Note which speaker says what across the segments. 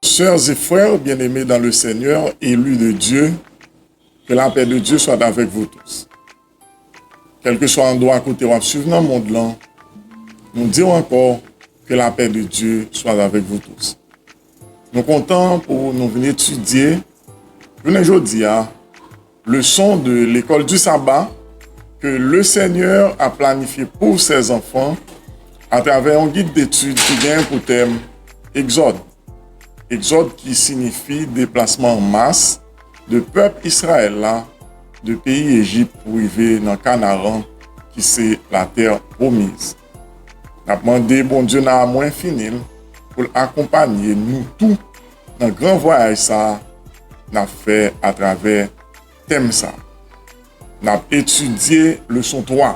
Speaker 1: Sœurs et frères bien-aimés dans le Seigneur, élus de Dieu, que la paix de Dieu soit avec vous tous. Kèlkeswa andwa kote w ap suiv nan mond lan, nou di w ankò, que la paix de Dieu soit avec vous tous. Nou kontan pou nou vin etidye jounen jodi a, Leson de Lekòl di Saba ke Le Senyè a planifye pou Sè Zanfan atravè yon gid detid ki gen pou tèm Egzòd. Egzòd ki sinifi deplasman an mas de pèp Israël la de peyi Ejip pou rive nan Kanaran ki se Latè Pwomiz. Nap mande Bondye nan amou enfini l pou l akonpanye nou tou nan gran vwayaj sa nap fè atravè tèm sa. Nap etidye leson 3.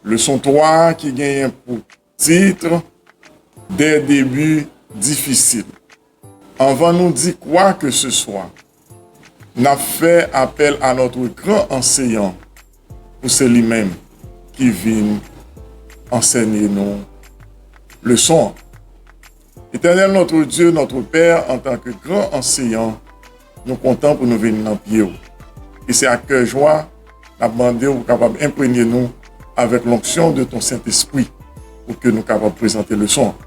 Speaker 1: Leson 3 ki genyen pou titre, Des débuts difficiles. Anvan nou di kwa ke se swa, n ap fè apèl a notre gran Anseyan pou se li menm ki vin ansènye nou leson an. Etènèl notre Dieu, notre Père, antan ke gran Anseyan, Nou kontan pou nou vin nan pye ou. E se ak kè jwa n ap mande ou pou kapab enpremye nou avèk lonksyon de ton Sentespri pou ke nou kapab prezante leson an.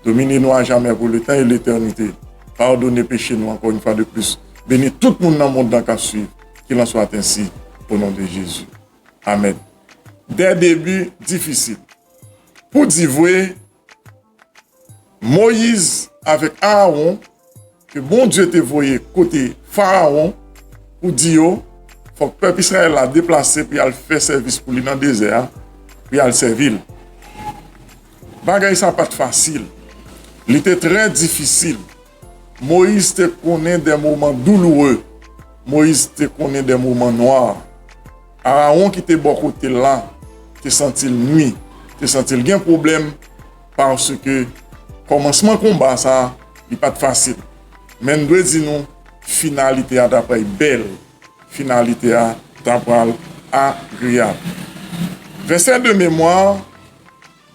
Speaker 1: Domine nou ajamè pou letan e letènite. Padone peche nou ankò yon fwa de plis. Beni tout moun nan mond lan k ap suiv. Kil an swat ensi o non de Jezi. Amèn. Dè debi difisil. Pou di vwe, Moyiz avèk Aawon ke Bondye te voye kote Farawon pou di yo fòk pèp Izrayèl la deplase pou y al fè sèvis pou li nan dezè a, pou y al sèvi l. Bagay sa a pa t fasil. Li te trè difisil. Moyiz te konnen de moman douloure. Moyiz te konnen de moman nwa. Arawon ki te bò kote l la te santi l nwi, te santi l gen pwoblèm paske kòmansman konba sa a li pa t fasil. Men n dwe di nou finalite a ta pral bèl, finalite a ta pral agreyab. Vèsè de memwa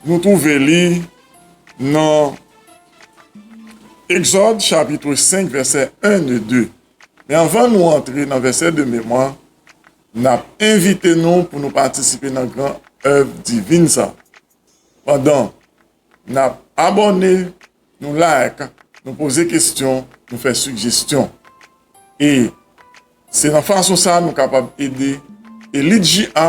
Speaker 1: nou twouve li nan. Exode chapitre 5 vèsè 1 e 2 Men anvan nou antre nan vèsè de memwa, n ap envite nou pou nou patisipe nan gran èv divin sa a. Pandan n ap abòne, nou like, nou poze kesyon, nou fè sigestyon. E se nan fason sa a nou kapab ede Elite JA.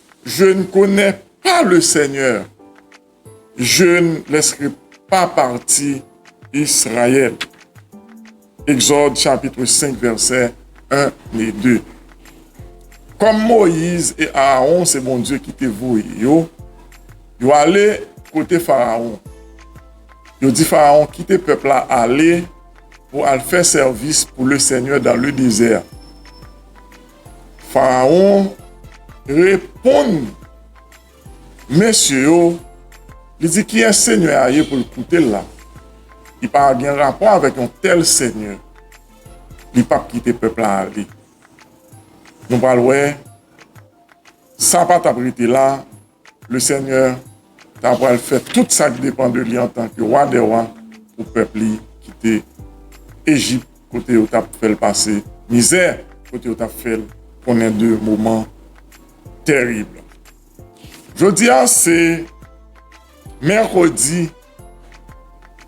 Speaker 1: Je n konè pa le Senyè. Je n lèsre pa pati Israyèl. Egzòd chapitre 5 vèsè 1 e 2 Kòm Moyiz e Aawon se Bondye ki te voye yo, yo ale kote Farawon. Yo di Farawon kite pèp la ale pou al fè sèvis pou le Senyè dan le dezè. Farawon reponn mesye yo, li di, Kiyès senyè a ye pou l koute l la? Li pa gen rapò avèk yon tèl senyè. Li pap kite pèp la ale. Nou pral wè sa pa t ap rete la Lesenyè ta pral fè tout sa k depan de li antanke Wa dè wa pou pèp li ki te Ejip kote yo t ap fè l pase mizè, kote yo t ap fè l konnen de moman tèrib. Jodi a se mèkredi.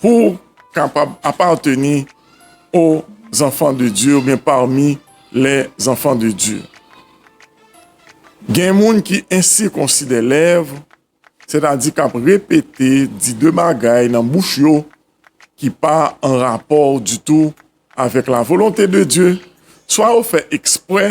Speaker 1: Pou w kapab apateni o zanfan de Dye ou byen pami lè zanfan de Dye. Gen moun ki ensikonsi de lèv, sètadi k ap repete di de bagay nan bouch yo ki pa an rapò ditou avèk lavolonte de Dye, swa yo fè eksprè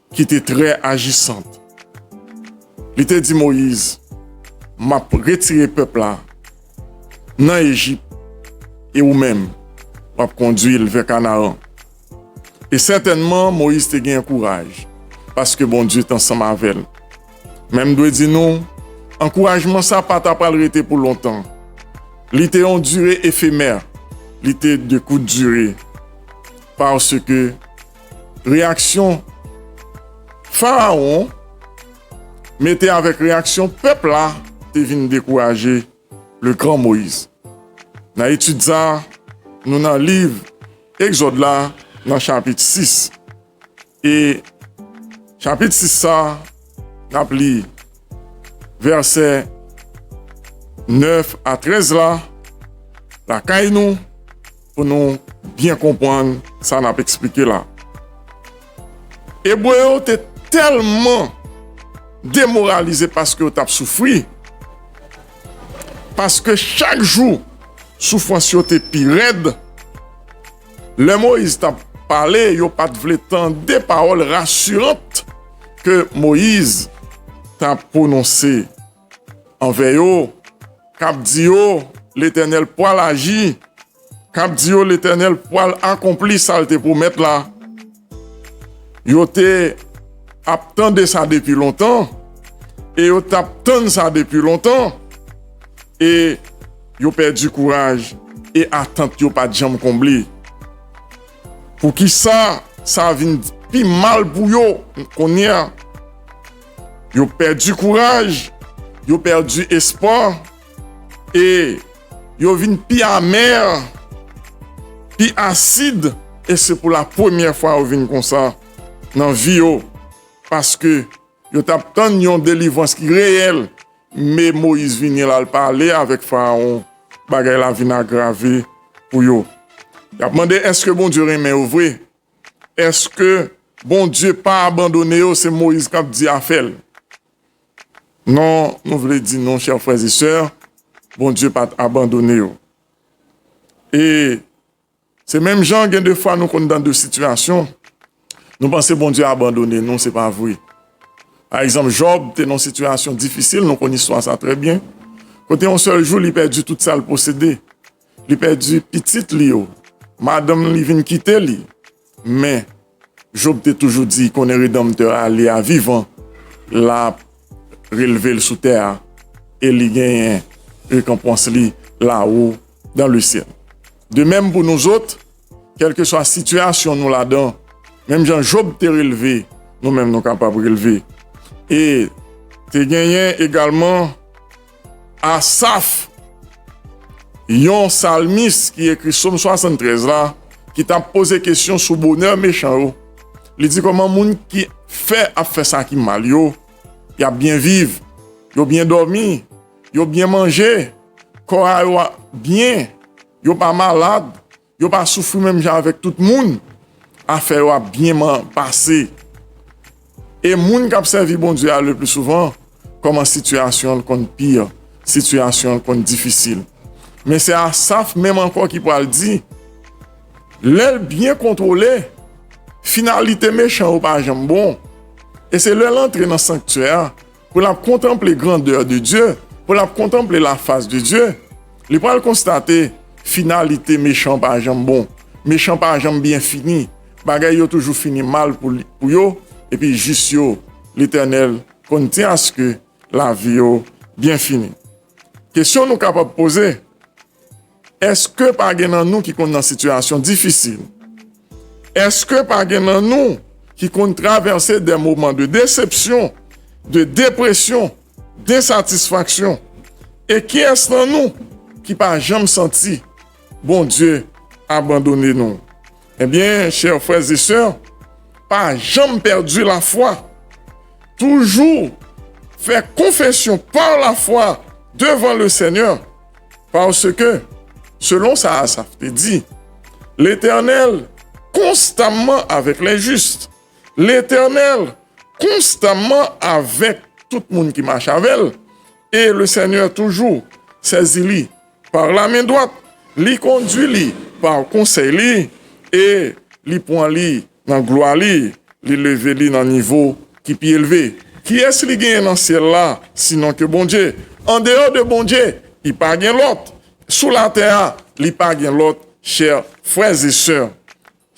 Speaker 1: ki te trè ajisant. Li te di Moyiz, M ap retire pèp la nan Ejip e ou menm, w ap kondui l vè Kanaran. E sètènman, Moyiz te gen kouraj, paske Bondye te ansanm avè l. Men m dwe di nou, ankourajman sa a pa t apral rete pou lontan. Li te yon dire efemè, li te de kout dire, paske, Reyaksyon Farawon mete avèk reyaksyon pèp la te vin dekouraje le gran Moyiz. Nan etid sa a, nou nan liv Egzòd la nan chapit 6. E chapit 6 sa a, n ap li vèsè 9 a 13 la lakay nou. Pou nou byen konprann sa n ap esplike la, Ebre yo te tèlman demoralize paske yo t ap soufri, paske chak jou soufrans yo te pi rèd, lè Moyiz t ap pale, yo pa t vle tande pawòl rasiran ke Moyiz t ap pwononse. anvè yo, k ap di yo, Letènèl pwal aji, k ap di yo, Letènèl pwal akonpli sa l te pwomèt la. Yo te ap tande sa depi lontan, e yo t ap tann sa depi lontan, e yo pèdi kouraj, e atant yo pa t janm konble. Poukisa sa vin pi mal pou yo kounye a? Yo pèdi kouraj, yo pèdi espwa, e yo vin pi amè, pi asid, e se pou la premyè fwa yo vin konsa nan vi yo, paske yo t ap tann yon delivrans ki reyèl, me Moyiz vini l al pale avèk Farawon, bagay la vin agrave pou yo. Y ap mande èske Bondye renmen yo vre? Eske Bondye pa abandone yo se Moïse kap di afèl non nou vle di nou chè frè e sè Bondye pat abandone yo e se menm jan gen de fwa nou konn dan de sitiyasyon nou panse Bondye abandone nou se pa vre pa egzanp Job te nan sitiyasyon difisil nou konn istwa sa trè byen kote yon sèl jou li pèdi tout sal posede Li pèdi pitit li yo. Madanm li vin kite li. Men, Jòb te toujou di, Konnen Redanmtè a, li a vivan, l ap relve l sou tè a e li genyen rekonpans li lawo dan lesyèl. De menm pou nouzot, kèlkeswa sitiyasyon nou ladan, menm jan Jòb te relve, nou menm nou kapab relve. E te genyen egalman. Asaf, yon salmis ki ekri Som 73 la, ki t ap poze kesyon sou bonè mechan yo, li di kòman moun ki fè ap fè sa ki mal yo, y ap byen viv, yo byen dòmi, yo byen manje, kò a yo byen, yo pa malad. Yo pa soufri menm jan avèk tout moun, afè yo ap byen pase. E moun k ap sèvi Bondye a lepli souvan kòman sitiyasyon l konn pi, sitiyasyon l konn difisil. Men se Asaf menm ankò ki pral di, Lè l byen kontwole, finalite mechan yo pa janm bon, e se lè l antre nan sanktyè a, Pou l ap kontanple grandè de Dye, pou l ap kontanple lafas de Dye, li pral konstate finalite mechan pa janm bon, mechan pa janm byen fini, bagay yo toujou fini mal pou yo, epi jis yo, Letènèl konn ti aske lavi yo byen fini. Kesyon nou kapab poze. Eske pa gen nan nou ki konn nan sitiyasyon difisil? Eske pa gen nan nou ki konn travèse de moman de desepsyon, de depresyon, densatisfaksyon? E kiyès nan nou ki pa janm santi Bondye abandone nou? Ebyen, chè frè e sè, pa janm pèdi lafwa. Toujou fè konfesyon pa lafwa devan le Senyè. Paske, selon sa Asaf te di, Letènèl konstamman avèk lenjis, Letènèl konstamman avèk tout moun ki mache avè l, e Lesenyè toujou sezi li pa lamen dwat, li kondui li pa konsèy li, e li pran li Nan glwa li, li leve li nan nivo ki pi elve. Kiyès li genyen nan syèl la sinon ke Bondye? Andeyò de Bondye, li pa gen lòt. Sou latè a, li pa gen lòt, chè frèzesè.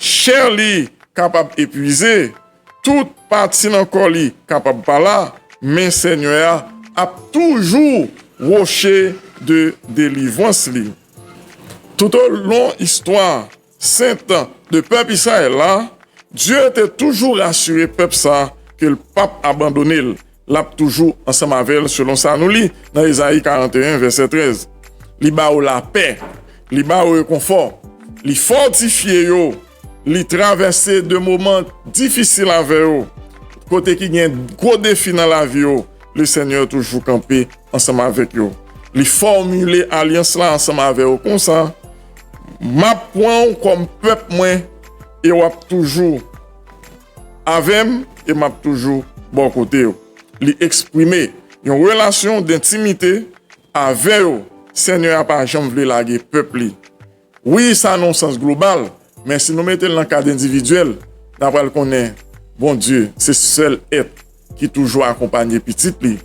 Speaker 1: Chè li kapab epwize, tout pati nan kò li kapab pa la, men Senyè a ap toujou woche de delivrans li. Toutolon istwa. Sen tan de pèp Israël la, Dieu te toujou rasure pèp sa ke l pap abandone l, l ap toujou ansanm avè l selon sa nou li nan Esaïe 41 vèsè 13. Li ba yo lapè, li ba yo rekonfò, li fòtifye yo, li travèse de moman difisil avè yo, kote ki gen gwo defi nan lavi yo, le Seigneur toujou kanpe ansanm avèk yo. Li fòmile alyans la ansanm avè yo konsa, Map pranw kòm pèp mwen e wap toujou avèm e map toujou bò kotew li eksprime yon relasyon dentimite avè yo senyè a pa janm vle lage pèp li wi sa nan yon sans global men si nou metel nan kad endividyèl na pral konnen Bondye se sèl èt ki toujou akonpanye pitit li,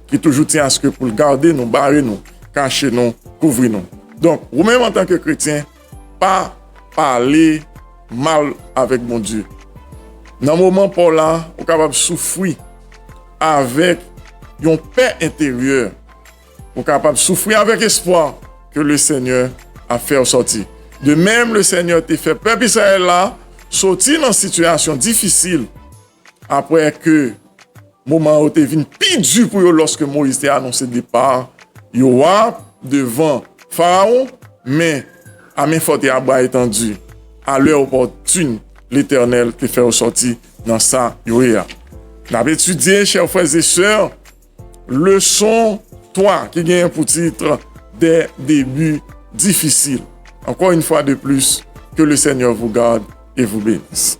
Speaker 1: ki toujou ti aske pou l gade nou, bare nou, kache nou, kouvri nou. Donk, ou menm antanke kretyen, pa pale mal avèk Bondye. Nan moman pa w la, ou kapab soufri avèk yon pè enteryè, ou kapab soufri avèk espwa ke Lesenyè ap fè w sòti. De menm, Lesenyè te fè pèp Izrayèl la sòti nan sitiyasyon difisil. Apre ke moman yo te vin pi di pou yo lòske Moyiz te anonse depa yo a devan Farawon, men, a men fò te a bra etandu, a lè opòtin, Letènèl te fè yo sòti nan sa yo ye a. N ap etidye, chè frèzesè, leson 3 ki genyen pou tit Des débuts difficiles. Encore une fois de plus, que le Seigneur vous garde et vous benisse.